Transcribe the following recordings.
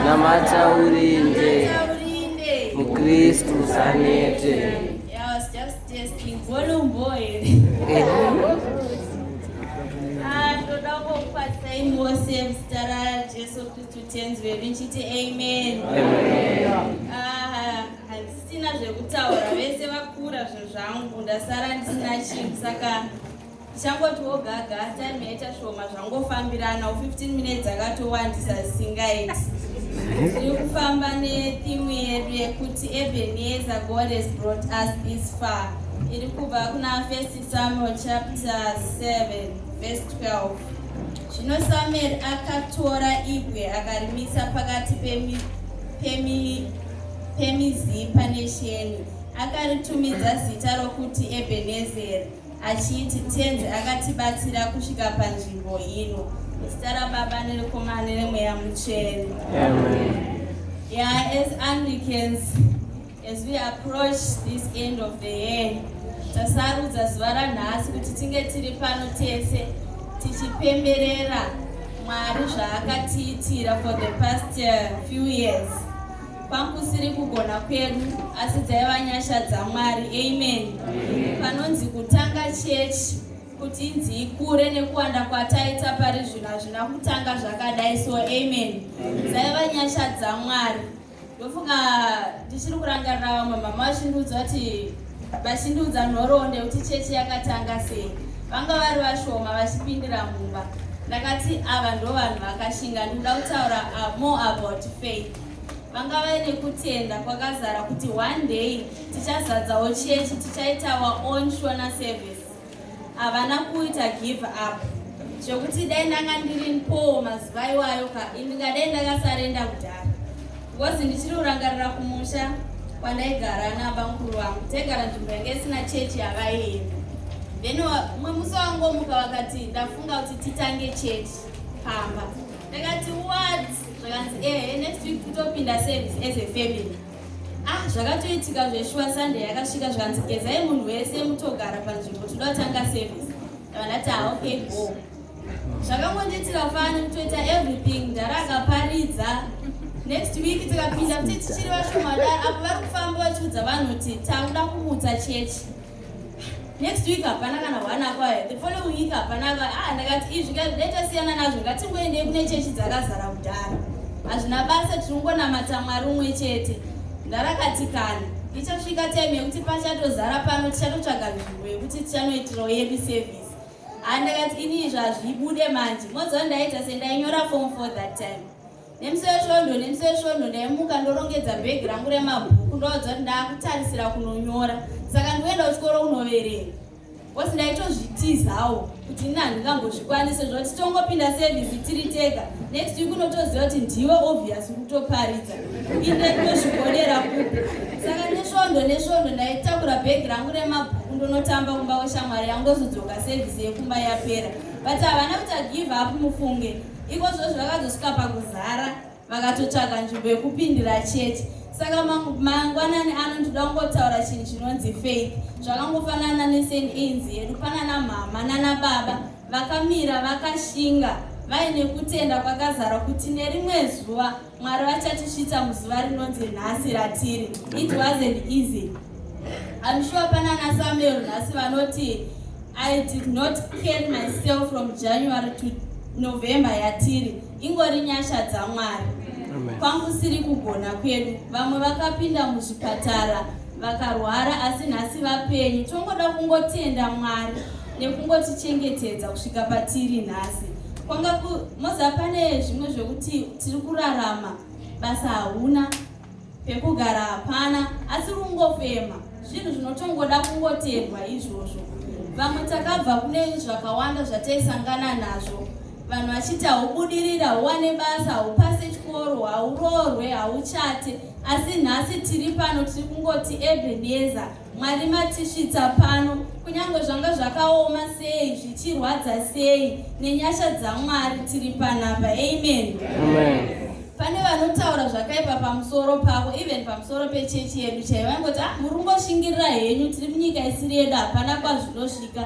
Namata urinde. Mukristu usanete. Yeah, I was just testing. Volume boy. Ah, toda kukwatsa imi wose muzita raJesu Kristu tenzi wedu nchiti amen. Ah, handisina zvekutaura vese vakura zvezvangu ndasara ndisina chinhu saka ndichangotiwo gaga time yaita shoma zvangofambirana 15 minutes akatowandisa zvisingaiti tiri kufamba nethimu yedu yekuti ebeneza god has brought us this far iri kubva kuna first samuel chapter 7 verse 12 zvino samueri akatora ibwe akarimisa pakati pemizipa nesheni akaritumidza zita rokuti ebenezeri achiti Tenzi akatibatsira kusvika panzvimbo ino. Muzita raBaba nereKomana nereMweya Mutsvene. Yeah, as Anglicans, as we approach this end of the year, tasarudza zuva ranhasi kuti tinge tiri pano tese tichipemberera Mwari zvaakatiitira for the past uh, few years. Pakusiri kugona kwedu asi dzaiva nyasha dzaMwari. Amen. Panonzi kutanga chechi kuti inzi ikure nekuwanda kwataita pari zvino hazvina kutanga zvakadai so amen. Dzaiva nyasha dzaMwari. Ndofunga ndichiri kurangarira vamwe mama vachindiudza kuti vachindiudza nhoroondo yekuti chechi yakatanga sei. Vanga vari vashoma vachipindira mumba. Ndakati ava ndovanhu vakashinga ndikuda kutaura ah, more about faith. vanga vaine kutenda kwakazara kuti one day tichazadzawo chechi tichaita our own shona service havana kuita give up zvekuti dai ndanga ndiri npowo mazuva iwayo ka ndingadai ndakasarenda kudhara bcause ndichiri kurangarira kumusha kwandaigara nabamukuru vangu taigara nzvimbo yange isina chechi yavaienda then umwe musi wangomuka vakati ndafunga kuti titange chechi pamba ndakati what zvakanzi ehe next week totopinda service as a family ah zvakatoitika zveshuwa sunday yakasvika zvikanzi gezai munhu wese mutogara panzvimbo toda kutanga service ndavandati ah okay go zvakangondiitira fani kutoita everything ndara akaparidza next week tikapinda kuti tichiri vashoma daro apo vari kufamba vachiudza vanhu kuti takuda kumutsa chechi next week hapana kana one apa eh, the following week hapana apa ah ndakati izvi ndaitasiyana nazvo ngatingoendei kune chechi dzakazara kudhara hazvina basa tiri kungonamata mwari umwe chete ndarakatikana ichasvika time yekuti pachatozara pano tichatotsvaga nzvimbo yekuti tichanoitirawo yedu service ah ndakati ini izvi hazvibude manje moziva ndaiita sendayinyora form for that time Nemusi wesvondo nemusi wesvondo ndaimuka ndorongedza bhegi rangu remabhuku ndoudza kuti ndaakutarisira kunonyora saka ndikuenda kuchikoro kunoverenga bcause ndaitozvitizawo kuti ini handingambozvikwanise zvoti tongopinda sevhisi tiri tega next week unotoziva kuti ndiwe obvious kutoparidza inde tozvigonera kupi saka nesvondo nesvondo ndaitakura bhegi rangu remabhuku ndonotamba kumba kweshamwari yangu ndozodzoka sevhisi yekumba yapera but havana kuti agive up mufunge ikozvozvo vakazosvika pakuzara vakatotsvaga nzvimbo yekupindira chete saka mangwanani ano ndinoda kungotaura chinhu chinonzi faith zvakangofanana neseneinzi yedu panana mhama nana baba vakamira vakashinga vaine kutenda kwakazara kuti nerimwe zuva Mwari vachatisvitsa muzuva rinonzi nhasi ratiri. It wasn't easy. I'm sure pana na Samuel nhasi vanoti I did not carry myself from January to November yatiri. Ingori nyasha dzaMwari. Kwangu siri kugona kwedu. Vamwe vakapinda muzvipatara vakarwara asi nhasi vapenyu. Tongoda kungotenda Mwari nekungotichengetedza kusvika patiri nhasi. Kwanga ku Moza pane zvimwe zvekuti Tiri kurarama, basa hauna, pekugara hapana, asi kungofema zvinhu zvinotongoda kungoterwa izvozvo. Vamwe takabva kune zvakawanda zvataisangana nazvo, vanhu vachiti haubudirira, hauwane basa, haupase chikoro, hauroorwe, hauchate, asi nhasi tiri pano tiri kungoti Ebenezer Mwari matisvitsa pano, kunyange zvanga zvakaoma sei, zvichirwadza sei, nenyasha dzaMwari tiri panapa. Amen. Pane vanotaura zvakaipa pamusoro pavo, even pamusoro pechechi yedu chaiyo, vangoti ah, muri kungoshingirira henyu, tiri munyika isiri yedu, hapana kwazvinosvika.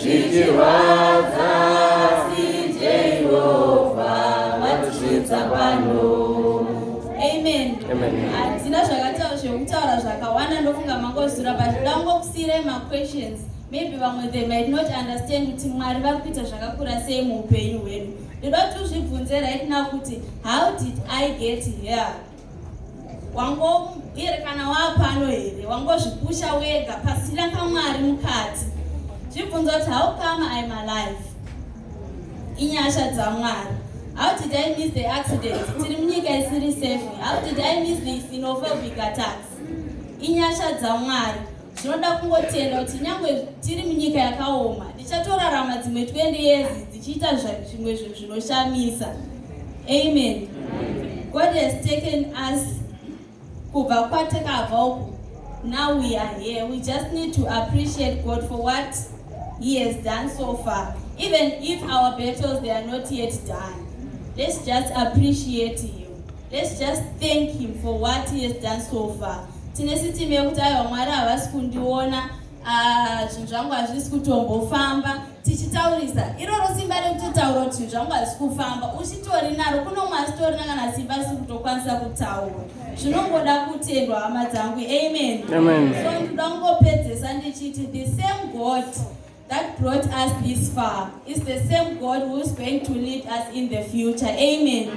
Zvichirwadza asi Jehovha vatisvitsa pano. Amen. Amen. Hadzina zvakataura zvekutaura zvakawanda ndofunga mangozura but dangokusiirai maquestions maybe vamwe they might not understand kuti mwari vari kuita zvakakura sei muupenyu hwedu ndoda kuti uzvibvunze right now kuti how did i get here wangoerekana wapano here wangozvipusha wega pasina kamwari mukati zvibvunza kuti how come im alive inyasha dzamwari how did i miss the accident tiri munyika isiri safe how did i miss the sinophobic attacks inyasha dzamwari Ndinoda kungotenda kuti nyangwe tiri munyika yakaoma, ndichatorarama dzimwe 20 years dzichiita zvimwe zvinhu zvinoshamisa. Amen. God has taken us kubva kwatakabva uku. Now we are here. We just need to appreciate God for what he has done so far. Even if our battles they are not yet done. Let's just appreciate him. Let's just thank him for what he has done so far. Tine system yekuti aiwa Mwari havasi kundiona ah, zvinhu zvangu hazvisi kutombofamba tichitaurisa iroro simba rekutotaura kuti zvinhu zvangu hazvisi kufamba uchitori naro kuno umwe asitorina kana simba risi kutokwanisa kutaura zvinongoda kutendwa hama dzangu amen so ndinoda kungopedzesa ndichiti the same god that brought us this far is the same God who is going to lead us in the future. Amen.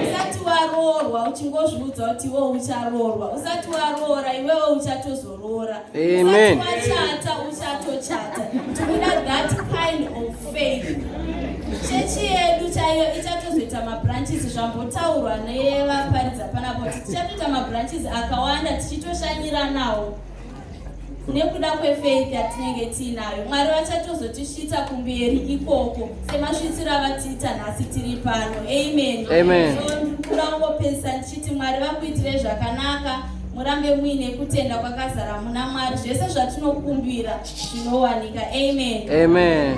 Usati waroorwa uchingozviudza kuti iwe ucharoorwa. Usati waroora iwewe uchatozoroora. Amen. Usati wachata uchatochata. Tikuda that kind of faith. Chechi yedu chaiyo ichatozoita mabranches zvambotaurwa nevaparidza panapo tichatoita mabranches akawanda tichitoshanyira nawo. nekuda kwefaith yatinenge tiinayo mwari vachatozotisvitsa kumberi ikoko semasvitsiro avatiita nhasi tiri pano amen ndikura kungopedzisa ndichiti mwari vakuitire zvakanaka murambe muine kutenda kwakazara muna mwari zvese zvatinokumbira zvinowanika amen amen